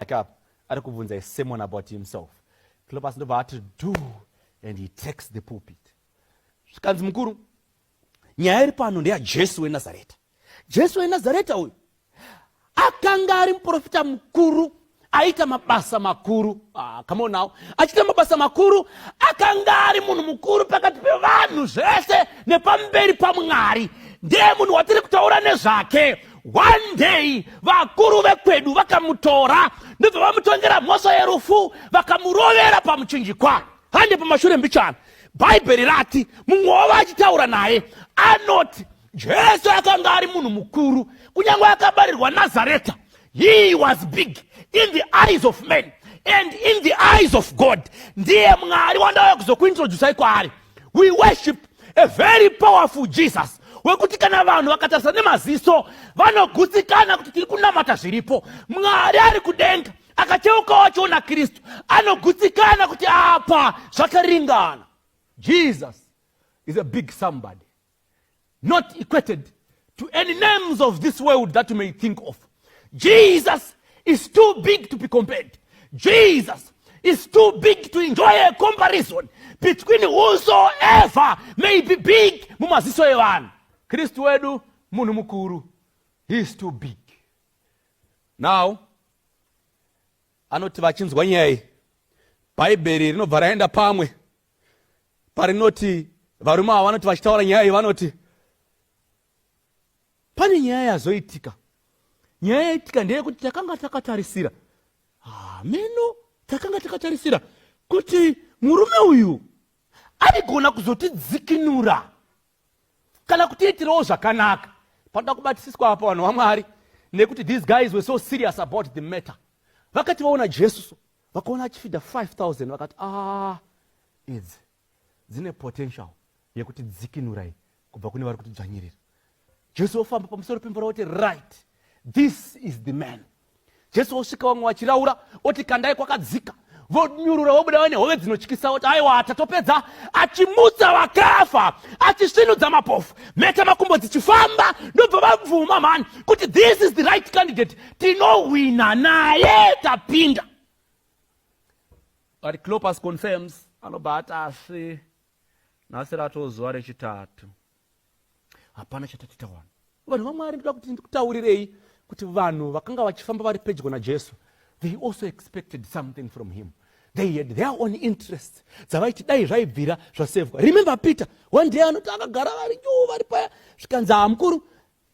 like up ari kubvunza a sermon about himself cleopas ndobva ati do and he takes the pulpit zvikanzi mukuru nyaya iri pano ndeyajesu wenazareta jesu wenazareta uyu akanga ari muprofita mukuru aita mabasa makuru ah, come on now achiita mabasa makuru akanga ari munhu mukuru pakati pevanhu zvese nepamberi pamwari ndiye munhu watiri kutaura nezvake One day vakuru vekwedu vakamutora ndobva vamutongera mhosva yerufu vakamurovera pamuchinjikwa hande pamashure mbichana bhaibheri rati mumwe wavo achitaura naye anoti jesu akanga ari munhu mukuru kunyange akabarirwa nazareta he was big in the eyes of men and in the eyes of god ndiye mwari wandauya kuzokuintroducai kwaari we worship a very powerful jesus wekuti kana vanhu vakatarisa nemaziso vanogutsikana kuti tiri kunamata zviripo mwari ari kudenga akacheukawo achiona kristu anogutsikana kuti apa zvakaringana jesus is a big somebody not equated to any names of this world that you may think of. Jesus is too big to be compared. Jesus is too big to enjoy a comparison between whosoever may be big mumaziso evanhu. Kristu wedu munhu mukuru. He is too big. Now, anoti vachinzwa nyaya iyi bhaibheri rinobva raenda pamwe parinoti varume ava vanoti vachitaura nyaya iyi vanoti pane nyaya yazoitika nyaya yaitika ndeyekuti takanga takatarisira hameno ah, takanga takatarisira kuti murume uyu aigona kuzotidzikinura kana kutiitirawo zvakanaka panoda kubatisiswa apa vanhu vamwari nekuti these guys were so serious about the matter vakati vaona jesuso vakaona achifidha 5000 vakati ah idzi dzine potential yekuti dzikinurai kubva kune vari kuti dzvanyirira jesu wofamba pamusoro pemvura woti right this is the man jesu wosvika vamwe vachiraura oti kandai kwakadzika vonyurura vobuda vane hove dzinotyisa kuti aiwa atatopedza achimutsa vakafa achisvinudza mapofu mheta makumbo dzichifamba ndobva vabvuma mhani kuti this is the right candidate tinohwina naye tapinda but clopas confirms anobva ati asi nhasi ratoo zuva rechitatu hapana chatatiita wani vanhu vamwari ndoda kuti ndikutaurirei kuti vanhu vakanga vachifamba vari pedyo najesu they also expected something from him they had their own interest dzavaiti dai zvaibvira zvasevwa remember peter one day anoti akagara vari juu vari paya zvikanzi hamukuru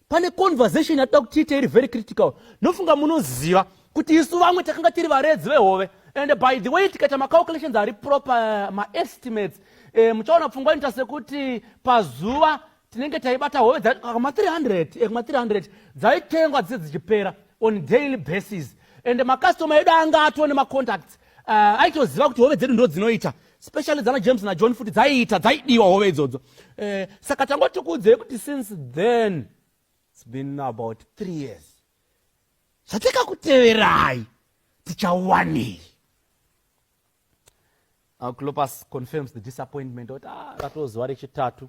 pane conversation yatoda kuti tiite iri very critical ndofunga munoziva kuti isu vamwe takanga tiri varedzi vehove and by the way tikaita macalculations ari proper eh, maestimates e, muchaona pfungwa inoita sekuti pazuva tinenge taibata hove dzakama 300 ekuma 300 dzaitengwa dzise dzichipera on daily basis and macustoma edu anga atone macontacts uh, aitoziva kuti hove dzedu ndo dzinoita specially dzana james najohn futi dzaiita dzaidiwa hove idzodzo eh, saka tangoti kuudzei kuti since then its been about three years zvatikakuteverai tichawanei clopas confirms the disappointment oti ah, ratoo zuva rechitatu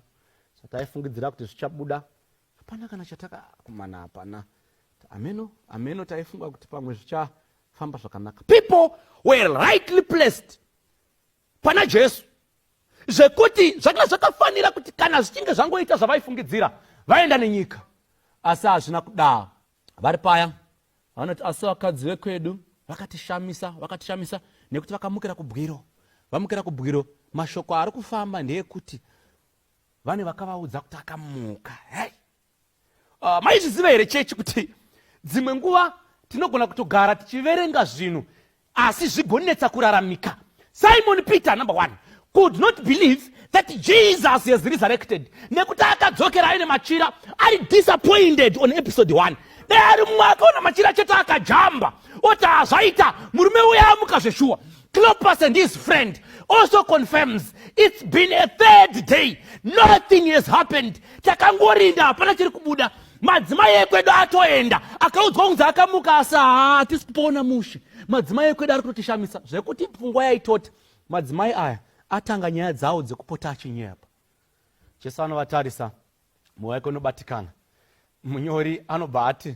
zvataifungidzira kuti zvichabuda hapana kana chatakakumana hapana ameno ameno taifunga kuti pamwe zvichafamba zvakanaka people were rightly placed pana jesu zvekuti zvakanga zvakafanira kuti kana zvichinge zvangoita zvavaifungidzira vaenda nenyika asi hazvina kudaro vari paya vanoti asi vakadzi vekwedu vakatishamisa vakatishamisa nekuti vakamukira kubwiro vamukira kubwiro mashoko ari kufamba ndeekuti vane vakavaudza kuti akamuka hey! Uh, maizviziva here chechi kuti dzimwe nguva tinogona kutogara tichiverenga zvinhu asi zvigonetsa kuraramika simon peter number one could not believe that jesus has resurrected nekuti akadzokera aine machira ari disappointed on episode one dai ari mumwe akaona machira chete akajamba oti hazvaita murume uya amuka zveshuwa Clopas and his friend also confirms it's been a third day nothing has happened takangorinda hapana chiri kubuda madzimai ekwedu atoenda akaudzwa kunzi akamuka asi haatisi kupoona mushe madzimai ekwedu ari kutotishamisa zvekuti pfungwa yaitoti madzimai aya atanga nyaya dzawo dzekupota achinyepa jesu anovatarisa mwoyo wake unobatikana munyori anobva ati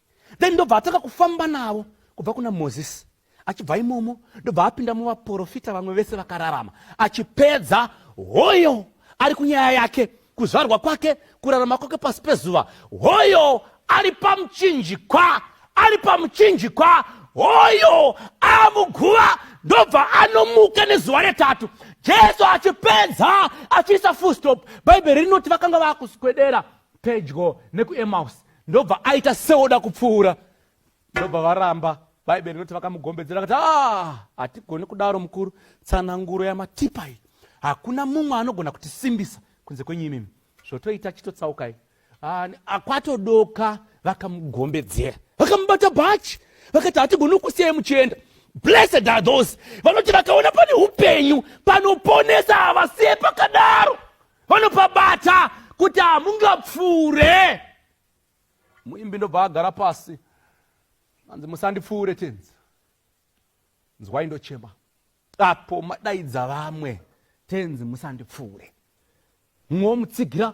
then ndobva atanga kufamba navo kubva kuna mozisi achibva imomo ndobva apinda muvaprofita vamwe vese vakararama achipedza hoyo ari kunyaya yake kuzvarwa kwake kurarama kwake pasi pezuva hoyo ari pamuchinjikwa ari pamuchinjikwa hoyo amuguva ndobva anomuka nezuva retatu jesu achipedza achiisa fullstop bhaibheri rinoti vakanga vakuswedera pedyo nekuemaus ndobva aita seoda kupfuura ndobva varamba bhaibheri rinoti vakamugombedzera vakati ah, hatigoni kudaro mukuru tsananguro yamatipa iyi hakuna mumwe anogona kutisimbisa kunze kwenyu imimi zvotoita chitotsaukai ah, akwatodoka vakamugombedzera vakamubata bhachi vakati hatigoni kusiyai muchienda blessed are those vanoti vakaona pane upenyu panoponesa havasiye pakadaro vanopabata kuti hamungapfuure muimbi ndobva agara pasi anzi musandipfuure tenzi nzwai ndochema apo madaidza vamwe tenzi musandipfuure mumwe womutsigira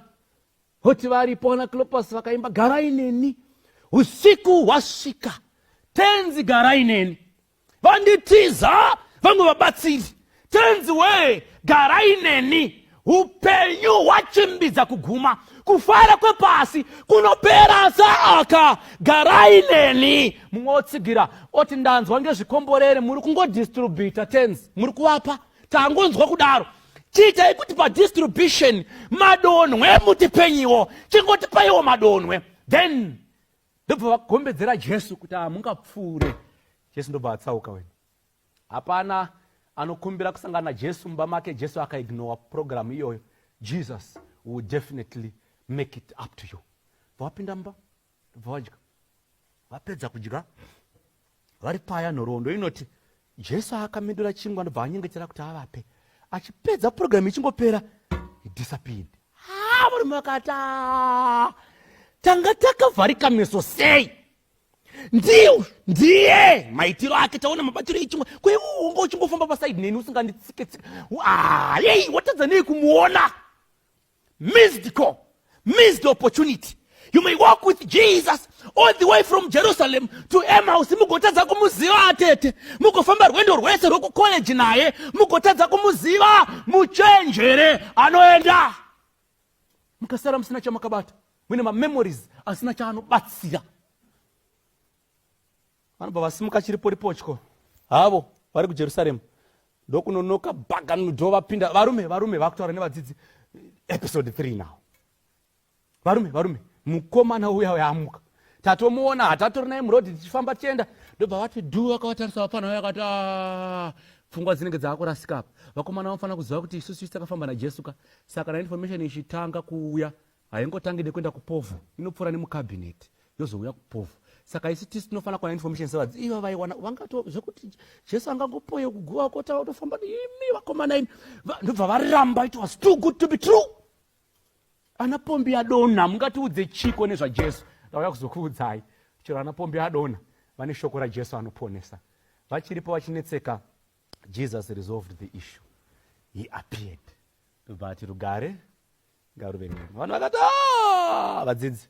hoti varipo ana clopas vakaimba garai neni usiku hwasvika tenzi garai neni vanditiza vamwe vabatsiri tenzi wee garai neni upenyu hwachimbidza kuguma kufara kwepasi kunopera saaka garai neni mumwe wotsigira oti ndanzwa ngezvikomborere muri kungodistrubhita tenzi muri kuvapa tangonzwa kudaro chiitai kuti padistribution madonhwe mutipenyiwo chingotipaiwo madonhwe then ndobva vagombedzera jesu kuti hamungapfuure jesu ndobva atsauka wena hapana anokumbira kusangana najesu mumba make jesu akaignora purogiramu iyoyo jesus will definitely make it up to you bva wapinda mumba bva wadya vapedza kudya vari paya nhoroondo inoti jesu akamedura chingwa ndobva anyengetera kuti avape achipedza purogiramu ichingopera disappeared ha varume vakati tanga takavharika meso sei ndiu ndiye maitiro ake taona mabatiro echingwa kweuunga uchingofamba pasaidi neni usinganditsike tsike yei watadza nei kumuona Missed call, missed opportunity. You may walk with Jesus all the way from Jerusalem to Emmaus mugotadza kumuziva atete mugofamba rwendo rwese rwekucollege naye mugotadza kumuziva muchenjere anoenda mukasara musina chamakabata mune mamemories asina chaanobatsira vanobva vasimuka chiriporipotyo havo vari kujerusaremu ndokunonoka bhaganudo vapinda varume varume vakutaura nevadzidzi episode 3 now varume varume mukomana uya uyamuka tatomuona hatatori naye murodi tichifamba tichienda ndobva vati dhu vakavatarisa vapfana uya akati ah, pfungwa dzinenge dzaakurasika apa vakomana vanofanira kuziva kuti isusu isi takafamba najesu ka saka na information ichitanga kuuya haingotangi nekuenda kupovho inopfuura nemucabinet yozouya kupovho saka haisi tisi tinofanira kuwana information sevadzi iva vaiwana vangato zvekuti jesu angangopoye kuguva kota otofamba imi vakomana ini ndobva varamba it was too good to be true ana pombi adonha mungatiudze chiko nezvajesu ndauya kuzokuudzai chero ana pombi adonha vane shoko rajesu anoponesa vachiripo vachinetseka jesus resolved the issue he appeared ndobva ati rugare ngaruve nyama vanhu vakati ah! vadzidzi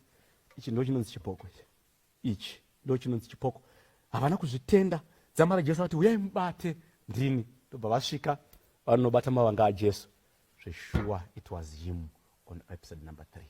ichi ndo chinonzi chipoko ichi ichi ndo chinonzi chipoko havana kuzvitenda dzama rajesu vati uyai mubate ndini ndobva vasvika vanobata mavanga ajesu zveshuwa it was him on episode number three